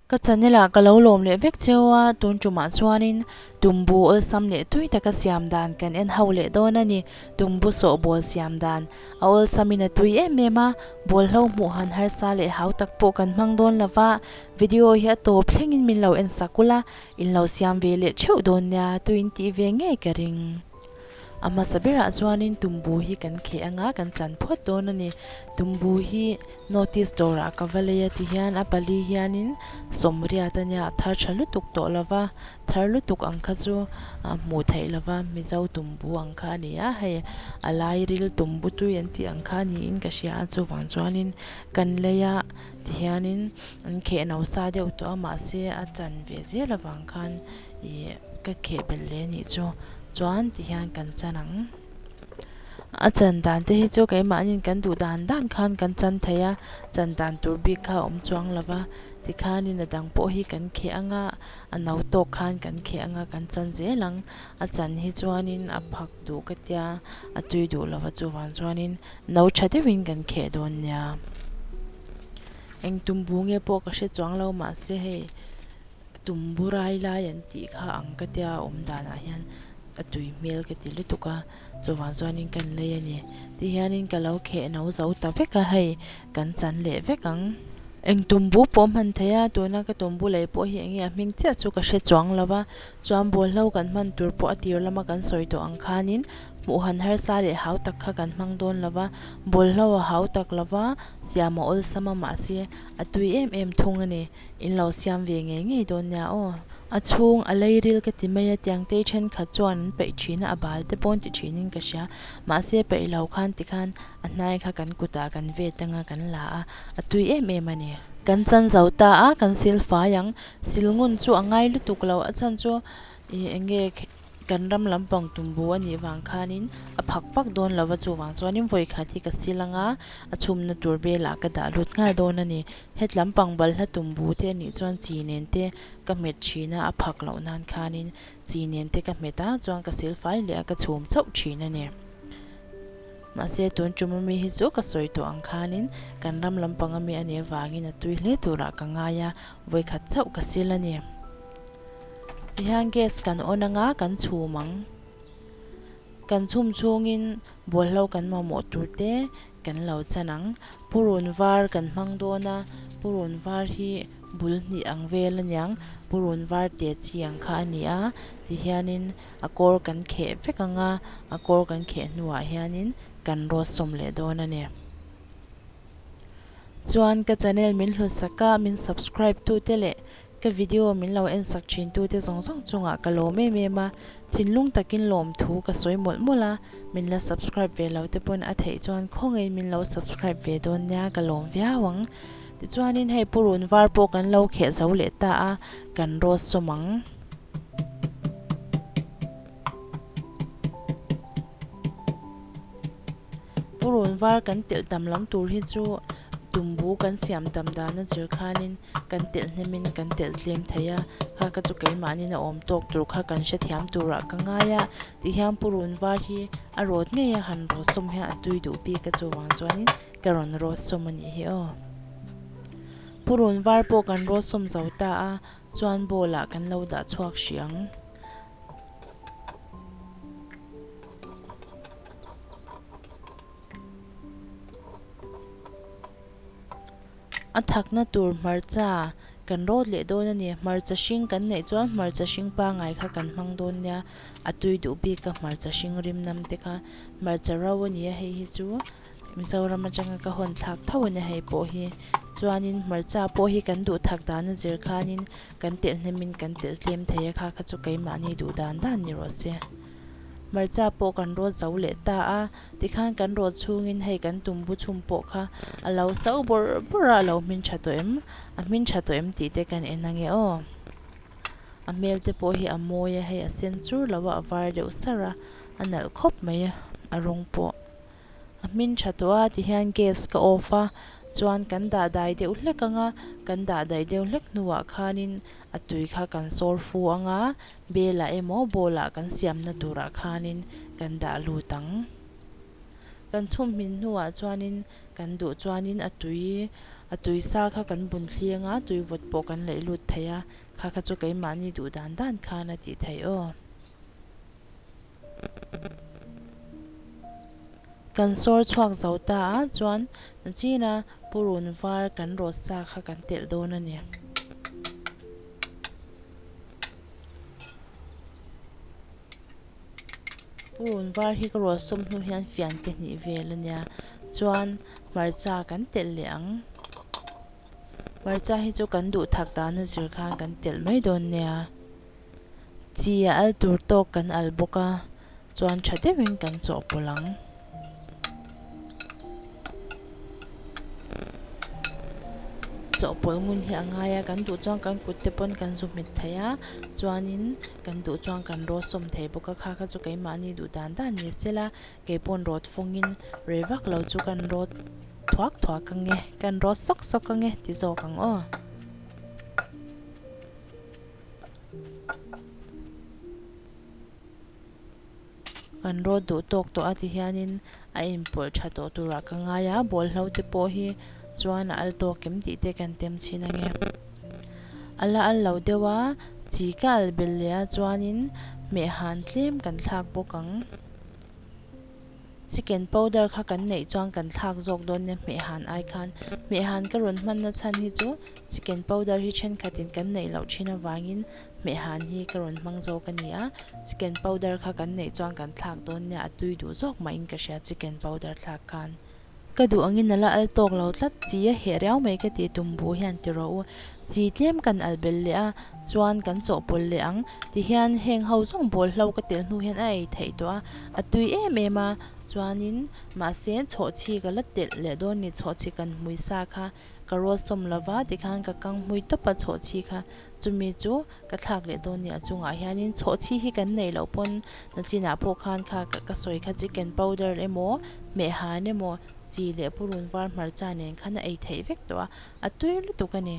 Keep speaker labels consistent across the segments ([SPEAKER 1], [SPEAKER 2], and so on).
[SPEAKER 1] Ka channel ah ka lo lawm leh vek cheu a, tun tumah chuanin Tumbu awlsam leh tui taka siam dan kan en ho leh dawn a ni. Tumbu sawh bawl siam dan a awlsamin a tui em em a, bawlhlo hmuh han harsa leh hau tak pawh kan hmang dawn lo va, video hi a tawp thlengin min lo en sak ula, In lo siam ve leh theuh dawn nia tuiin tih ve ngei ka ring. A hmasa berah chuanin tumbu hi kan kheh anga kan chan phuat dawn a ni. Tumbu hi notice dawrah ka va lei a tihian a pali hianin sawmriat a nia a thar tha lutuk tawh lo va, thar lutuk ang kha chu a hmuh theih lo va, Mizo tumbu ang kha a ni a, hei a lairil tumbu tui an tih ang kha niin ka hria a chuvang chuanin kan lei a. Tihianin an kheh no sa deuh tawh a, mahse a chan ve zel avang khan ih ka kheh belh leh anih chu, chuan tihian kan chan ang. A chan dan te hi chu keimahnin kan duh dan dan khan kan chan thei a, chan dan tur bik kha a awm chuang lo va, tikhanin a dang pawh hi kan kheh ang a, a no tawk khan kan kheh ang a, kan chan zel ang. A chan hi chuanin a phak duh ka tia, a tui duh lova chuvang chuanin. No tha deuhin kan kheh dawn nia. Eng tumbu nge pawh ka hre chuang lo mahse hei tumbu rai lai an tih kha ang ka tia awm danah hian a tui hmel ka ti lutuk a, chuvang chuanin kan lei a ni. Ti hianin ka lo kheh no zo ta vek a hei kan chan leh vek ang. Eng tumbu pawh hman theih a, tuna ka tumbu lei pawh hi enge a hming chiah chu ka hre chuang lo va, Chuan bualhlo kan hman tur pawh a tir lama kan sawi tawh ang khanin hmuh han harsa leh hau tak kha kan hmang dawn lo va, bualhlo a hau tak lo va, siam a awlsam a mahse a tui em em thung a ni, in lo siam ve ngei ngei dawn nia aw. A chhung a leiril ka ti mai a, Tiangtei thenkhat chuan an peih thin a, a bal te paw'n ti thinin ka hria, mahse peih lo khan ti khan a hnai kha kan kutah kan ve tang a, kan la a, a tui em em a ni. Kan chanzo ta a, kan silfai ang, Sil ngun chu a ngai lutuk lo, a chhan chu i eng nge kan ram lampang tumbu anih vang khanin a phak phak dawn lova chuvang chuanin vawikhat hi ka sil anga a chhumna tur belah ka dah lut nghal dawn a ni. Hetlam pang balhla tumbu te anih chuan chi nen te ka hmet thin a, a phak loh nan khanin chi nen te ka hmet a chuan ka silfai leh a ka chhum chauh thin a ni. Mahse, tun ṭum ami hi chu ka sawi tawh ang khanin kan ram lampang ami a nih avangin a tui hle turah ka ngai a, vawi khat chauh ka sil a ni. Tihian gas kan on anga kan chhum ang. Kan chhum chhungin bawlhlo kan mamawh tur te kan lo chan ang. Purun var kan hmang dawn a, purun var hi bul hnih ang vel a niang purun var tia chi ang kha a ni a, tihianin a kawr kan kheh vek ang a, a kawr kan kheh hnuah hianin kan rawt sawm leh dawn a ni. Chuan ka channel min hlusak a, min subscribe tute leh ka video min lo en sak thin tute zawng zawng chungah ka lawm em em a, thinlung takin lawm thu ka sawi mawlh mawlh a, min la subscribe ve lo te pawn a theih chuan khawngaih min lo subscribe ve dawn nia ka lawm viau ang. Tichuanin hei purun var pawh kan lo kheh zo leh ta a, kan rawt sawm ang. Purun var kan telh tam lam tur hi chu tumbu kan siam tam dan a zir khanin kan telh hnemin kan telh tlem thei a, kha ka chu keimahnin a awm tawk tur kha kan hre thiam turah ka ngai a, tih hian purun var hi a rawt ngei a, han rawt sawm hian a tui duh bik a chuvang chuanin Ka rawn rawsawm a nih hi aw. Purun var pawh kan rawsawm zo ta a, chuan bowl ah kan lo dah chhuak hrih ang. A thakna tur hmarcha kan rawt leh dawn a ni. Hmarcha hring kan neih chuan hmarcha hring pangai kha kan hmang dawn nia, a tui duh bik a hmarcha hring rimnam te kha. Hmarcha ro a ni a hei hi chu. Mizoram atanga ka hawn thlak tho a nia hei pawh hi. Chuanin hmarcha pawh hi kan duhthak dana zir khanin kan telhnemin kan telh tlem thei a kha kha chu keimahni duh dan dan ni rawh se. Hmarcha pawh kan rawt zo leh ta a, tikhan kan rawt chhungin hei kan tumbu chhum pawh kha a lo so bawrh bawrh a, a lo hmin tha tawh em? A hmin tha tawh em tih te kan en ange aw. A hmel te pawh hi a mawi a, hei a sen chur lo a, a var deuh sar a, a nalh khawp mai a, a rawng pawh. A hmin tha tawh a ti hian gas ka off a chuan kan dah dai deuh hlek ang a, kan dah daih deuh hlek hnuah khanin a tui kha kan sawr fu ang a, belah emaw bawlah kan siamna turah khanin kan dah lut ang. Kan chhum hmin hnuah chuanin kan duh chuanin a tui a tui sa kha kan bun thli ang a, tui vawt pawh kan laih lut thei a, kha kha chu keimahni duh dan dan khan a tih theih aw. Kan sawr chhuak zo ta a chuan chin a purun var kan rawt sa kha kan telh dawn a ni. Purun var hi ka rawt sawm hnu hian fian ka hnih vel a nia chuan hmarcha kan telh leh ang. Hmarcha hi chu kan duhthak dana zir khan kan telh mai dawn nia. Chi a al tur tawk kan al bawk a, chuan tha deuhin kan chawhpawlh ang. Chawhpawlh ngun hi a ngai a, kan duh chuan kan kutte pawn kan zu hmet thei a, chuanin kan duh chuan kan rawt sawm thei bawk a, khakha chu keimahni duh dan dan ni se la, kei pawn rawt fawngin rei vak lo chu kan rawt thuak thuak ka nge, kan rawt sawk sawk ka nge ti zawk ang aw. Kan rawt duh tawk tawh a ti hianin a inpawlh tha tawh turah ka ngai a, bawlhlo te pawh hi chuan a al tawk em tih te kan tem chhin ange. A la al lo deuh a, chi ka al bel leh a chuanin hmeh han tlem kan thlak bawk ang. Chicken powder kha kan neih chuan kan thlak zawk dawn nia hmehhan ai khan. Hmehhan ka rawn hman na chhan hi chu chicken powder hi thenkhat in kan neih loh thin avangin hmehhan hi ka rawn hmang zawk a ni a. Chicken powder kha kan neih chuan kan thlak dawn nia a tui duh zawk mahin ka hria chicken powder thlak khan. Ka duh angin a la al tawk lo tlat chi a, heh riau mai ka ti, Tumbu hian ti rawh u, chi tlem kan alh bel leh a, chuan kan chawhpawlh leh ang ti hian heng ho zawng bawl hlo ka telh hnu hian a ei theih tawh a, a tui em em a, chuanin mahse chhawhchhi ka la telh leh dawn ni, chhawhchhi kan hmui sa kha. ka rualsawm lo va tikhan ka kang hmui tawp a chhawhchhi kha chumi chu ka thlak leh dawn nia chungah hianin chhawhchhi hi kan nei loh pawn nachinah pawh khan kha ka sawi kha chicken powder emaw hmehhan emaw chi leh purun var hmarcha nen khan a ei theih vek tawh a a tui lutuk a ni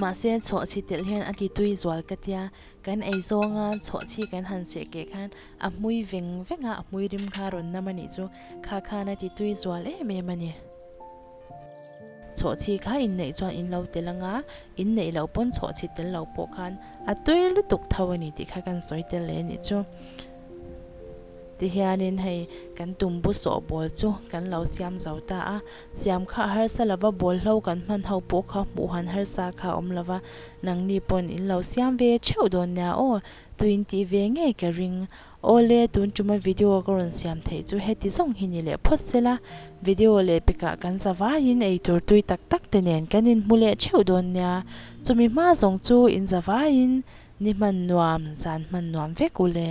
[SPEAKER 1] mahse chhawhchhi telh hian a ti tui zual ka tia kan ei zawng a chhawhchhi kan han seh keh khan a hmui veng veng a a hmui rim kha rawn nam a nih chu kha khan a ti tui zual em em a ni. Chhawhchhi kha inneih chuan in lo tel anga, in neih loh pawn chhawhchhi tel loh pawh khan a tui lutuk tho a ni tih kha kan sawi tel leh a nih chu. Tihianin hei kan tumbu sawhbawl chu kan lo siam zo ta a, siam kha harsa lova bawl hlo kan hman ho pawh kha hmuh han harsa kha a awm lova, nangni pawn in lo siam ve theuh dawn nia aw, tui in tih ve ngei ka ring. Awle, tun tuma video ka rawn siam theih chu heti zawng hi ni leh phawt se la, video leh pekah kan zavaiin eitur tui tak tak te nen kan inhmu leh theuh dawn nia, chumi hma zawng chu in zavaiin ni hman nuam, zan hman nuam vek u le.